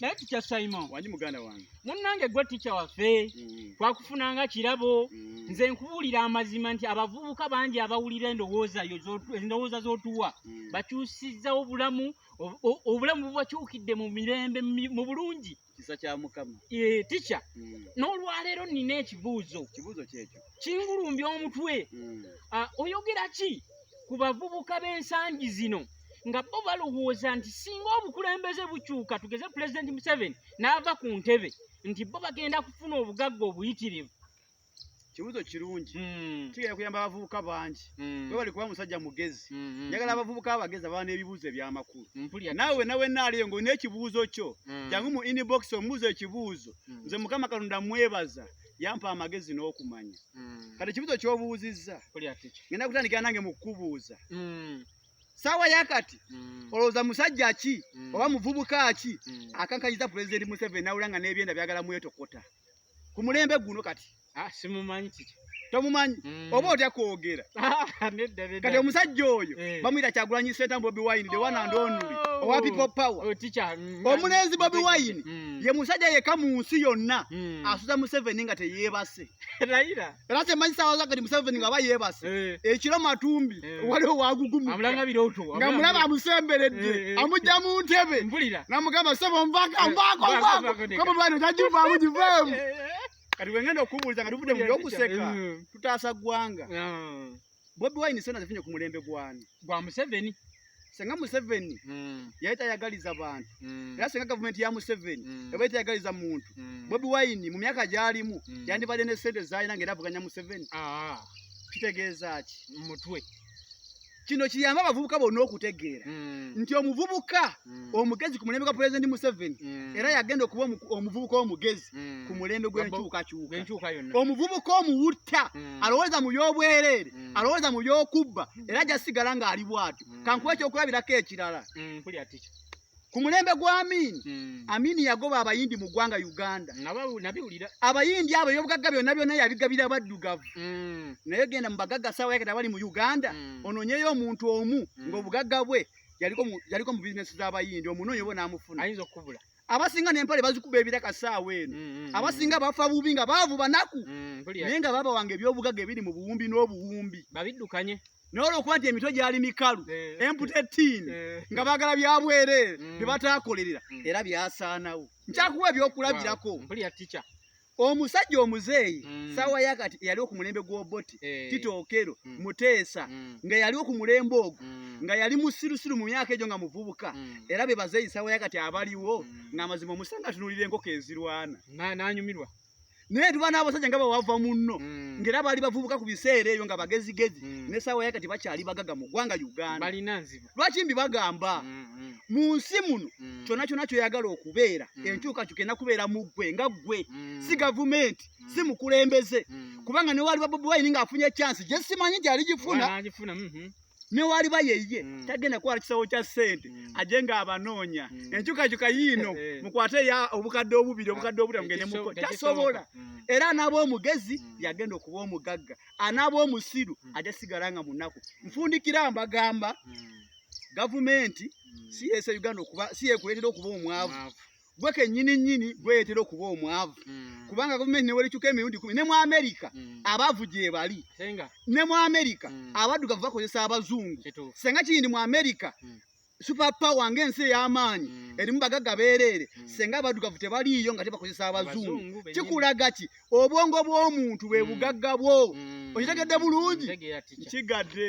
naye tikya simon wanyi muganda wange munnange gwe tikya waffe mm. twakufunanga kirabo mm. nze nkubuulira amazima nti abavubuka bangi abawulira endowooza yo endowooza z'otuwa mm. bakyusizzawo bulamu obulamu bubakyukidde mu mirembe mu bulungi kisa kya mukama e, tikya mm. n'olwaleero nina ekibuuzo kibuuzo kyekyo kingulumbya omutwe mm. oyogera ki ku bavubuka b'ensangi zino nga bo balowooza nti singa obukulembeze bukyuka tugeze pulezidenti museveni n'ava ku ntebe nti bo bagenda kufuna obugagga obuyitirivu kibuzo kirungi hmm. kigenda kuyamba abavubuka bangi hmm. webali kuba musajja mugezi hmm, njagala abavubuka abagezi ababa n'ebibuuzo ebyamakulu naawe wena wena aliyo ngaolina ekibuuzo kyo jangu mu inbox omubuuzo ekibuuzo nze mukama katonda mwebaza yampa amagezi n'okumanya mm. kati ekibuzo kyobuuzizza ngenda kutandikira nange mu kukubuuza mm. saawa yakati mm. olowooza musajja ki mm. oba muvubuka ki mm. akankanyiza pulezidenti museveni nawula nga n'ebyenda byagala mwetokota ku mulembe guno kati ah, simumanyi kiki tomumanyi mm. mm. oba otya kwogera kati omusajja oyo eh. bamuyita kyagulanyi senta bobi wine the one and only oh. owa people power oh, mm, omulenzi bobi wine mm. ye musajja yeka mu nsi yonna asuza museveni nga teyebase era kyemanyi sawaza kati museveni nga aba yebase eh. ekiro matumbi eh. waliwo wagugumu nga mulaba amusemberedde amujja mu ntebe namugamba sebo nvaka nvako nvako kobobi wine tajivaamu jiveemu kati wengenda okubuuliza nga tuvudde mu byokuseka mm. tutaasa ggwanga mm. bobi wine sona zifunye ku mulembe gwani gwa museveni senga museveni mm. yali tayagaliza bantu era senga gavumenti ya museveni eba yali tayagaliza muntu bobi wine mu myaka gyalimu yandibadde ne sente zalina nga era avuganya museveni ah. kitegeeza ki mutwe kino kiyamba abavubuka bonna okutegeera mm. nti omuvubuka mm. omugezi ku mulembe gwa pulezidenti museveni mm. era yagenda okuba omuvubuka omugezi ku mulembe gwenkyukakyuka omuvubuka omuwutta alowooza mu byobwereere alowooza mu byokubba era jasigala ng'ali bwatyo kankuba ekyokulabirako ekirala ku mulembe gwa Amini hmm. Amini yagoba abayindi mu ggwanga Uganda abayindi abo ebyobugagga byonna byonna yabigabira baddugavu hmm. naye genda mu bagagga saawa yaketa bali mu Uganda hmm. ononyeyo omuntu omu ng'obugagga bwe yaliko mu bizinesi z'abayindi omunoonyi oba n'amufuna ayinza okukubula abasinga nempale bazikuba ebiraka saawa eno mm, mm, mm. abasinga bafa bubi nga baavu banaku naye nga baba wange ebyobugaga ebiri mu buwumbi n'obuwumbi babidukanye naye olwokuba nti emitwe gyali mikalu eh. emputa ettiini eh. nga bagala byabwereere mm. bye bataakolerera mm. era byasaanawo nkyakuwa ebyokulabirako omusajja omuzeeyi mm. saawa yakati eyaliwo ku mulembe gw'oboti eh. tito okero muteesa nga yaliwo ku mulembe ogwo nga yali musirusiru mu myaka egyo nga muvubuka era be bazeeyi saawa yakati abaliwo ng'amazima omusanga atunulira enkoko ezirwana nanyumirwa naye tuba n'abasajja nga bawava munno mm. ngaera baali bavubuka ku biseera eyo nga bagezigezi mm. nesaawa yakati bakyali bagaga mu ggwanga uganda lwaki mbi bagamba mm, mm. mu nsi muno mm. kyona kyona kyoyagala okubeera mm. enkyukakyuka ena kubeera mu ggwe nga ggwe mm. si gavumenti mm. si mukulembeze mm. kubanga newali babobi wayini ng'afunye ekyansi gye simanyi gyali gifuna mm -hmm. ne waliba yeye mm. tagenda kwala kisawo kya sente mm. ajenga abanoonya mm. enkyukakyuka yiino eh. mukwate ya obukadde obubiri obukadde obutamu ngende muko tasobola mm. era anaaba omugezi mm. yagenda okuba omugagga anaaba omusiru mm. aja sigala nga munaku nfundikira mbagamba mm. gavumenti mm. si yese uganda okuba si yekuletera okuba omwavu gwe kenyini nyini gweyetera okuba omwavu mm. kubanga gavumenti newerikyuka emirundi kumi ne mu amerika mm. abavu gyebali ne mu amerika mm. abaddugavu bakozesa abazungu senga kiyindi mu amerika mm. super power ng'ensi ey'amaanyi mm. erimu bagagga beereere mm. singa abaddugavu tebaliiyo nga tebakozesa abazungu kikulaga ki obwongo bw'omuntu bwe mm. bugagga bwo okitegedde bulungi nkigadde